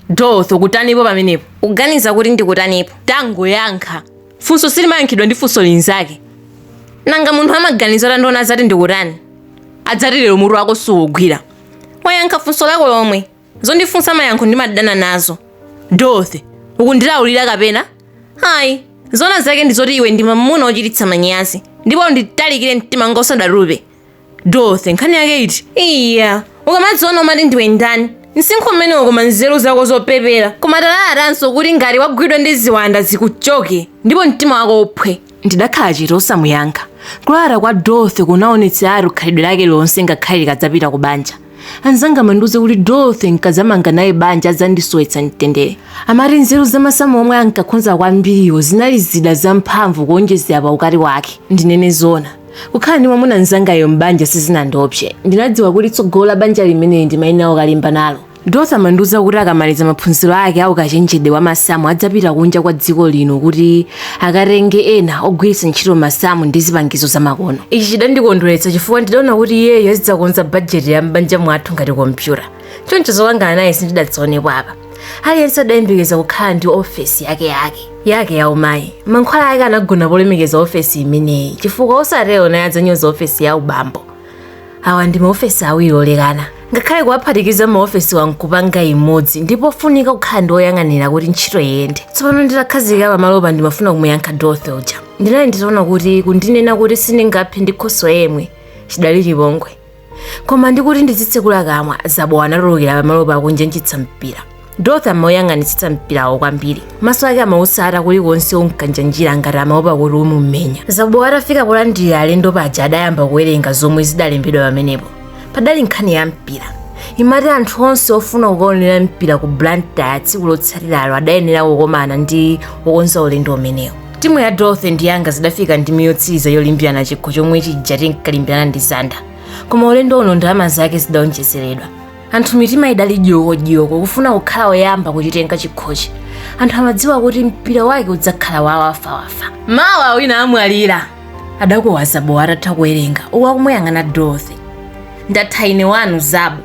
Dorothy, ukutanipo pamenepo? Uganiza kuti ndikutanipo? Tangoyankha. Funso silimayankhidwa ndi funso linzake. Nanga munthu amaganiza atandiona adzati ndikutani? Adzati lero mutu wako suwugwira. Wayankha funso lako lomwe. Zondifunsa mayankho ndimadana nazo. Dorothy, ukundilaulira kapena? Ayi, zona zake ndi zoti iwe ndi mamuna ochititsa manyazi. Ndipo unditalikire mtima wanga usadatupe. Dorothy, nkhani yake iti? iya ukamadziona umati ndiwe ndani msinkhu umenewo koma nzeru zako zopepera koma talalatanso kuti ngati wagwidwa ndi ziwanda zikuchoke ndipo mtima wako uphwe ndidakhala chete osamuyankha kulalata kwa dorothy kunaonetseratu khalidwe lake lonse ngakhale likadzapita ku banja anzanga amandiuza kuti dorothy nkadzamanga naye banja adzandisowetsa mtendere amati nzeru zamasamu omwe ankakhonza kwambiriwo zinali zida zamphamvu kuonjezera pa ukali wake ndinene zona kukhala ndi mwamuna mzangayo m'banja sizinandiopse ndinadziwa kuti tsogolo la banja limeneli ndimayenera kukalimba nalo dorothy amandiuza kuti akamaliza maphunziro ake aukachenjede wa masamu adzapita kunja kwa dziko lino kuti akatenge ena ogwiritsa ntchito masamu ndi zipangizo zamakono ichi chidandikondweretsa chifukwa ndidaona kuti iyeyo azidzakonza bajeti ya m'banja mwathu ngati kompyuta choncho zokangana naye sindidazionepo apa aliyense adayembekeza kukhala ndi ofesi yake yake yake ya umayi mankhwala ake anagona polemekeza ofesi imeneyi chifukwa osatero naye adzanyoza ofesi ya ubambo awa ndi maofesi awiri olekana ngakhale kuwaphatikiza maofesiwa nkupanga imodzi ndi pofunika kukhala ndi oyang'anira kuti ntchito iyende tsopano nditakhazikika pamalopa ndimafuna kumuyankha dorothy uja ndinali nditaona kuti kundinena kuti sindingaphe ndi khoswe yemwe chidali chipongwe koma ndikuti ndizitsekula kamwa zabowa anatulukira pamalopa akunjanjitsa mpira Dorothy amauyang'anitsitsa mpirawo kwambiri maso ake amautsata kulikonse unkanjanjira ngati amaopa kuti umumenya zabo atafika polandira alendo paja adayamba kuwerenga zomwe zidalembedwa pamenepo padali nkhani ya mpira imati anthu onse ofuna kukaonera mpira ku blantyre tsiku lotsatiralo adayenera kukomana ndi wokonza ulendo umenewo timu ya dorothy ndi yanga zidafika ndime yotsiriza yolimbirana chikho chomwe chija tinkalimbirana ndi zanda koma ulendo uno ndalama zake zidaonjezeredwa anthu mitima idali dyokodyoko kufuna kukhala oyamba kuchitenga chikhochi anthu amadziwa kuti mpira wake udzakhala wawafawafa mawa wina amwalira adakuwa zabo atatha kuwerenga uku akumuyang'ana dorothy ndatha ine wanu zabo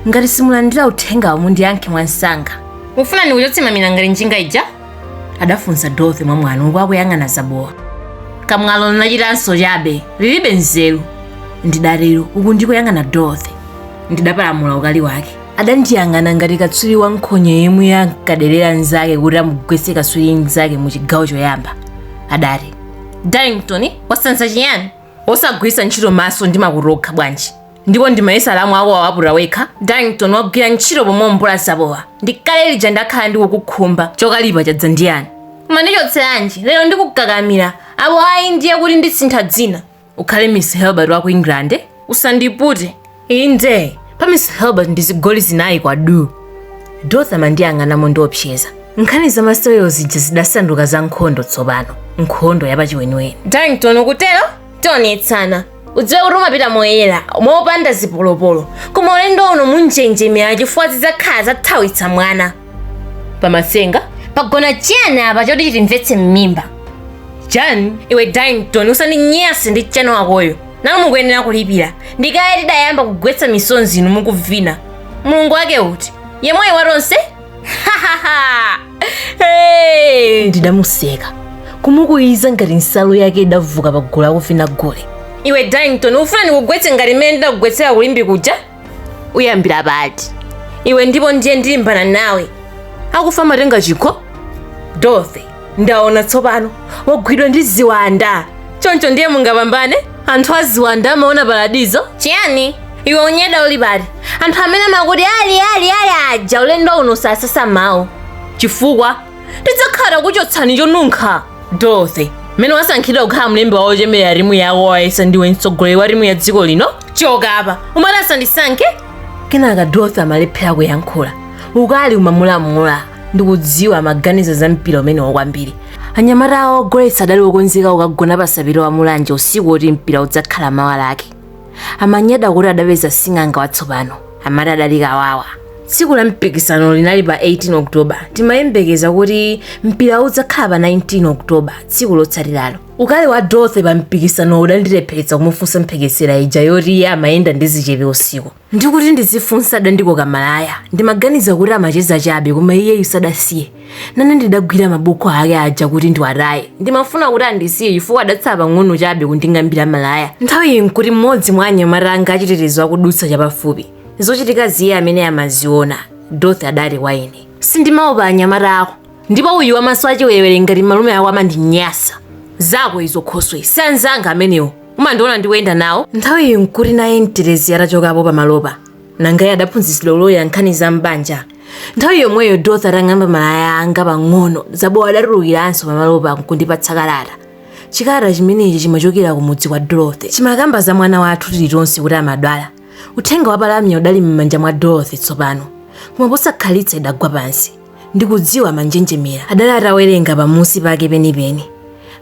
ngati simulandira uthengawo mundiyankhe mwansanga mufuna ndikuchotse mamina ngati njinga ija adafunsa dorothy mwamwano uku akuyang'ana zabowa kamwalo linachitanso chabe lilibe nzeru ndidatero uku ndikuyang'ana dorothy ndidapalamula ukali wake adandiyang'ana ngati katswiri wa nkhonya yemwe ankaderera mnzake kuti amugwetse katswiri mnzake mu chigawo choyamba adati darlington wasanza chiyani osagwiritsa ntchito maso ndi makutu okha bwanji ndipo ndimayesa alamu ako wawaputa wekha darrington wagwira ntchito pomwe mvula zabowa ndikale lija ndakhala ndikukukhumba chokalipa chadza ndiyani mandichotseranji lero ndikukakamira apo ayi ndiye kuti ndisintha dzina ukhale miss helbert wa ku england eh? usandipute inde pa miss helbert ndi zigoli zinayi kwa du dorothy amandiyang'ana mondiopseza nkhani za masewero zija zidasanduka za nkhondo tsopano nkhondo yapachiweniweni darrington ukutero tionetsana udziwe kuti umapita moyera mopanda zipolopolo koma ulendo uno munjenjemera chifukwa zidzakhala zathawitsa mwana pamasenga pagona chiyani apa choti chitimvetse m'mimba chani iwe darrington usandinyase ndi chani wakoyo nanu mukuyenera kulipira ndikale tidayamba kugwetsa misonzi inu mukuvina mulungu wake uti yemweyi wa tonse hey! ndidamuseka kumukuwiza ngati nsalu yake idavuka pa gulu akuvina gule iwe darrington ufuna ndikugwetse ngati mmene ndidakugwetsera ku limbe kuja uyambira pati iwe ndipo ndiye ndilimbana nawe akufa amatenga chikho dorothy ndaona tsopano wagwidwa ndi ziwanda choncho ndiye mungapambane anthu aziwanda amaona paradizo chiyani iwe unyada uli pati anthu amene amakuti ali ali ali aja ulendo uno sasasa mawu chifukwa tidzakhala takuchotsani chonunkha dorothy mmene wasankhidwa kukhala mlembi wa ochemerera timu yako wayesa ndiwe mtsogoleri wa timu ya dziko lino choka apa umati asandisankhe kenaka dorothy amalephera kuyankhula ukali umamulamula ndikudziwa amaganiza za mpira umenewo kwambiri anyamata awo ogoletsa adali okonzeka kukagona pa sapitwa wa mulanje usiku woti mpira udzakhala mawa lake amanyada kuti adapeza sing'anga watsopano amati adali kawawa tsiku la mpikisano linali pa 18 oktoba timayembekeza kuti mpira udzakhala pa 19 oktoba tsiku lotsatiralo ukali wa dorothy pa mpikisano udandilepheretsa kumufunsa mphekesera ija yoti iye amayenda ndi zichepe usiku Ndikuti ndizifunsa adandikoka malaya ndimaganiza kuti amacheza chabe koma iyeyu sadasiye. Nane ndidagwira mabuku ake aja kuti ndiwataye. Ndimafuna kuti andisiye chifukwa adatsala pang'ono chabe kunding'ambira malaya. Nthawiyi n'kuti mmodzi mwa anyamata anga achitetezo akudutsa chapafupi. Zochitikazi iye amene amaziona, Dorothy adati kwa ine. Sindimaopa anyamata ako, ndipo uyu wamaso achiwerewere ngati malume ako amandinyasa zako izo khoswe si anzanga amenewo umandiona ndikuyenda nawo nthawi iyi nkuti naye mtetezi atachokapo pamalopa nanga iye adaphunzitsidwa uloya nkhani za m'banja nthawi yomweyo dorothy atang'amba malaya anga pang'ono zabowa adatulukiranso pamalopa nkundipatsa kalata chikalata chimenechi chimachokera ku mudzi kwa dorothy chimakamba za mwana wathu tilitonse kuti amadwala uthenga wa palamya udali m'manja mwa dorothy tsopano koma posakhalitsa idagwa pansi ndikudziwa manjenjemera adali atawerenga pamusi pake penipeni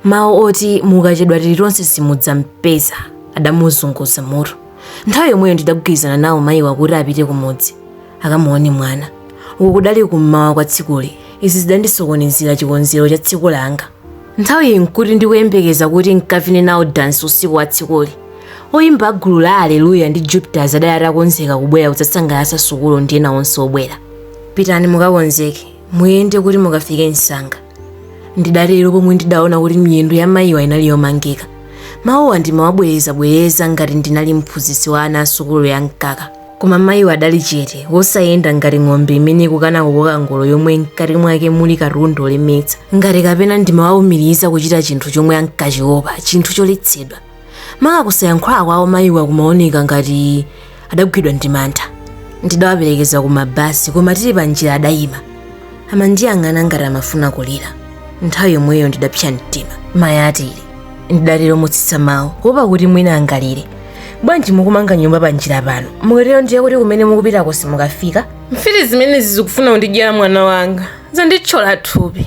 mawu oti mukachedwa tilitonse simudzampeza adamuzunguza mutu nthawi yomweyo ndidagwirizana nawo mayiwa kuti apite kumudzi akamuone mwana uku kudali kummawa kwa tsikuli izi zidandisokonezera chikonzero cha tsiku langa nthawiyi nkuti ndikuyembekeza kuti nkavine nawo dansi usiku wa tsikuli oyimba agulu la aleluya ndi jupiters adali atakonzeka kubwera kudzasangalatsa sukulu ndi ena onse obwera pitani mukakonzeke muyende kuti mukafike msanga ndidatero pomwe ndidaona kuti miyendo ya mayiwa inali yomangika mawuwa ndimawabwerezabwereza ngati ndinali mphunzitsi wa ana asukulu ya mkaka koma mayiwa adali chete wosayenda ngati ng'ombe imene ikukana kukoka ngolo yomwe mkati mwake muli katundu olemetsa ngati kapena ndimawawumiriza kuchita chinthu chomwe ankachiopa chinthu choletsedwa maka kusayankhula kwawo mayiwa kumaoneka ngati adagwidwa ndi mantha ndidawaperekeza ku mabasi koma tili pa njira adayima amandiyang'ana ngati amafuna kulira nthawi yomweyo ndidapsa mtima mayi a tili ndidatero motsitsa mawu kuopa kuti mwina angalire bwanji mukumanga nyumba pa njira pano mukatero ndiye kuti kumene mukupitako simukafika mfiti zimenezi zikufuna kundidyera mwana wanga zanditchola thupi